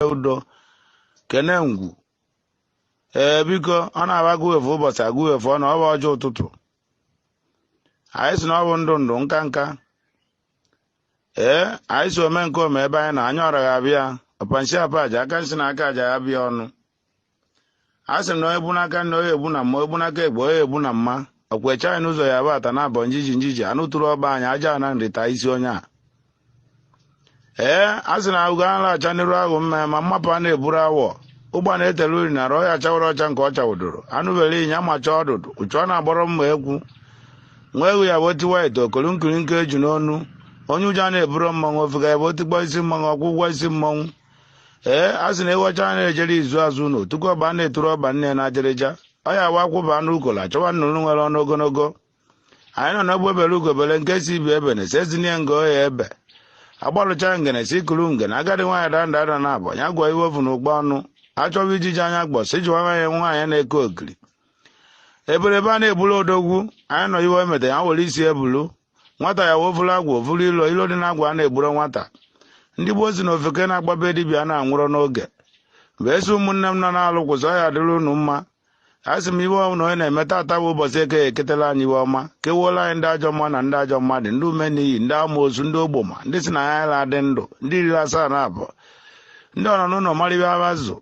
udo kene ngwu ee biko ọ na-abụ agụ efu ụbọchị agụ efu ọnụ ọ bụ ọjị ụtụtụ anyị sị na ọ bụ ndụ ndụ nka nka ee anyị sị ome nke ome ebe anyị na anyị ọra ga-abịa ọpa nsi apa aja aka nsi na aka aja ya bịa ọnụ a sị na onye bu n'aka nne onye egbu na mma onye bu n'aka egbe onye egbu na mma ọkwa eche anyị n'ụzọ ya bata na abọ njiji njiji anụ tụrụ ọba anyị aja na nrịta isi onye a ee a sị na ahụgo a na-acha n'iru ahụ mma ma mmapụ a na-eburu awọ ụgbana etele uri na ọ ya chawara ọcha nke ọ chawụdoro anụ bere ịnyịnya amacha ọdụdụ uchu ọ na-agbọrọ mma egwu nwa egwu ya bụ otiwa ite okolu nkiri nke eju n'ọnụ onye ụjọ na-eburu mmanwụ ofeke ya bụ otikpọ isi mmanwụ ọkwụ ụgwọ isi mmanwụ ee a sị na ewu ọcha a na-ejere izu azụ na otuku ọba na-eturu ọba nne na ajịrịja ọ ya wụ a kwụba anụ ukola chọwa nnụnụ nwere ọnụ ogologo anyị nọ na egbe bere ugo bere nke sị ibe ebena esi ezinye nga ọ ya-ebe agbalụcha ngene si kuru ngene agadi nwaanyị da nda ada naabọ a gụọ iwe o vu n'ụkpa ọnụ a chọwa ijiji anya gbọ sị jewe nwaanyị nwaanyị na-eke ogiri eberebe a na-ebulu odogwu anyị nọ iwe emeta ya were isi bulu nwata ya wụ o vuru agwụ o vuru ilo ilo dị n'agwụ a na-egburo nwata ndị gboo sị na ofeke na-agba be dibịa na-anwụrọ n'oge wee sị ụmụnne m nọ n'alụ kwụsị ọ ya dịrị unu mma a sị m iwe ọbụla onye na-eme tata bụ ụbọchị eke eketela anyị iwe ọma kewuola anyị ndị ajọ mma na ndị ajọ mmadụ ndị ume n'iyi ndị amoosu ndị ogboma ndị sị na ya ala adị ndụ ndị riri asaa na abụọ ndị ọnọ n'ụlọ marịba abazụ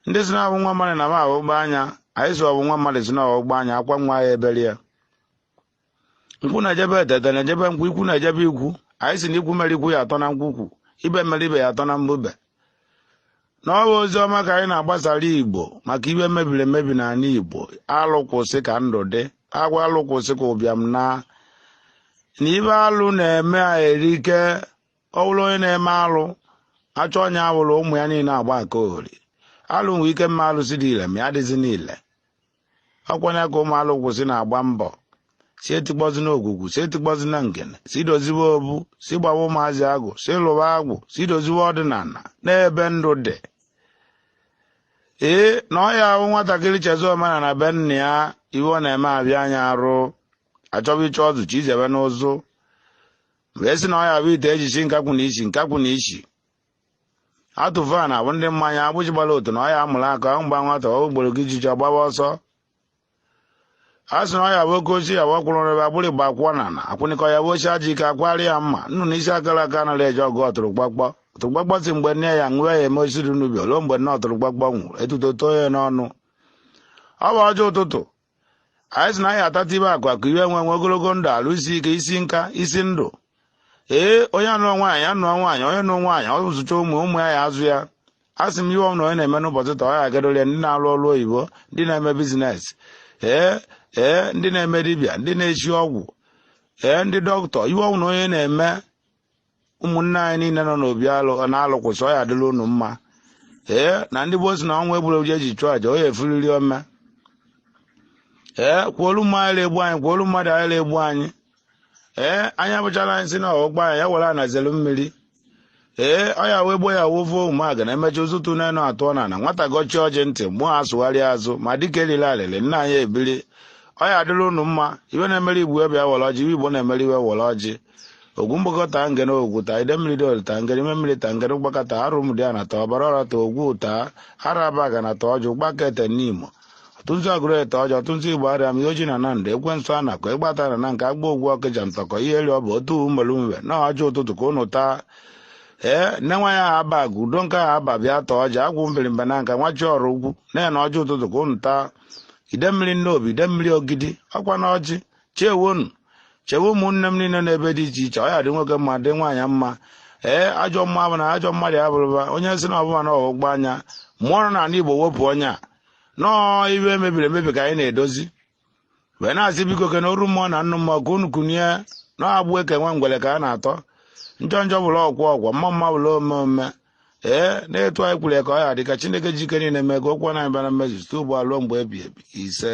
ndị sị na ọ bụ nwa mmadụ na ma agbụgba anya anyị sị ọ bụ nwa mmadụ sị na ọgbụgba anya akwa nwa ya ebere ya nkwụ na-eje be ete ete na-eje be nkwụ ikwu na-eje be ikwu anyị sị na ikwu mere ikwu ya atọ na nkwukwu ibe mere ibe ya atọ na mbube na ọ bụ ozi ọma ka anyị na-agbasara igbo maka ibe mebiri emebi n'ala igbo alụ kwụsị ka ndụ dị agwa alụ kwụsị ka ụbịam naa na ibe alụ na-eme erike ọ bụrụ onye na-eme alụ achọ onye awụrụ ụmụ ya niile agba aka ori alụ nwee ike ma alụsị dị ile ma ya dịzi niile ọ kwanụ ya ka ụmụ alụ kwụsị na-agba mbọ sị etikpọzina ogwugwu sị etikpọzina ngene sị doziwe obu sị gbawa ụmụazị agwụ sị lụwa agwụ sị doziwe ọdịnala n'ebe ndụ dị ee na ọ ya wụ nwatakịrị chezọ omenala be nna ya iwe ọ na-eme abịa anya arụ a chọba ichi ọzọ chi izebe n'ụzụ wee sị na ọ ya bụ ite e ji si nkakwụ na-esi nkakwụ na isi atụ van abụ ndị mmanya agbịsị gbara otune ọ ya amụrụ akọ aṅụ gbaa nwata okporo ijiji ọ gbaba ọsọ a sị na ọ ya bụ oke ochie ya bụ ọkwụrụ rebe agbụrụ igba akwụkwọ na na akwụnịkọ ya bụ ochie aja ike akwari ya mmanụ na isi akara aka anaghị eje ọgụ ọtụrụkpọkpọ ọtụrụkpọkpọ sị mgbe nne ya nwụọ ya eme osisi n'ubi ruo mgbe nne ọtụrụkpọkpọ nwụrụ etuto too ya n'ọnụ ọ bụ ọjị ụtụtụ anyị sị na anyị atata ibe akụ akụ ibe nwe nwe ogologo ndụ arụ isi ike isi nka isi ndụ ee onye anụọ nwaanyị anụọ nwaanyị onye nụọ nwaanyị ọ zụchaa ụmụ ụmụ ya ya azụ ya a sị m iwe ọwụna onye na-eme n'ụbọchị taa ọ ya agadolia ndị na-alụ ọlụ oyibo ndị na-eme business ee ee ndị na-eme dibịa ndị na-esi ọgwụ ee ndị doctor iwe ọwụna onye na-eme ụmụnne anyị niile nọ n'obi alụ na-alụkwụsị ọ ya adịlị unu mma ee na ndị gboo si na ọnwụ egburo ji e ji chụọ aja ọ ya efuriri ome ekwolo mmụọ anyị egbu anyị ekwolo mmadụ anyị egbu anyị ee anya bụchara anyị si na ọgba anyị ya ewere na-ezelu mmiri ee ọ ya wee gbo ya wovo ụmụaka na emechi ụzụtụ n'enu atụọ na na nwata gọchie ọjị ntị mmụọ asụgharịa azụ ma dịka erila alịlị nna anyị ebiri ọ ya adịlị unu mma iwe na-emere igbo iwe ya were ọjị iwe igbo na-emere iwe were ọjị ogwu mgbakọ taa ngene ogwu taa idemmiri dị olu taa ngene ime mmiri taa ngene ụgbaka taa arụ mdị a na-ata ọbara ọra taa ogwu taa araba ga na-ata ọjị ụgbaka ete n'imo ụtụtụ agụrụ ete ọjị ụtụtụ igbo arịa m ihe oji na na ndụ ekwensu a nakọ ịgbata na na nke agba ogwu ọkịja ntọkọ ihe eri ọ bụ otu mmelu mwe na ọjị ụtụtụ ka unu taa ee nne nwa ya aba aga udo nke ahụ aba bịa taa ọjị agwụ mbirimba na nka nwachi ọrụ ugwu na-ene ọjị ụtụtụ ka unu taa idemmiri nnobi idemmiri ogidi ọkwa na ọjị chewenụ chewe ụmụnne m niile n'ebe dị iche iche ọ ya dị nwoke mma dị nwaanyị mma ee ajọ mmụọ bụ na ajọ mmadụ ya bụrụba onye si na ọbụma na ọgbụgba anya mmụọ nọ n'anị igbo wepụ onye a nọọ iwe mebiri emebi ka anyị na-edozi wee na-asị biko ke na oru mmụọ na nnụ mmụọ ka unu kunie na agbụ e ke nwa ngwele ka a na-atọ njọ njọ bụrụ ọgwụ ọgwụ mma mma bụrụ ome ome ee na etu anyị kwuru ya ka ọ ya adị ka chineke ji ike niile mee ka okwu ọnụ anyị bịa na mmezu site ugbu a ruo mgbe ebi ebi ise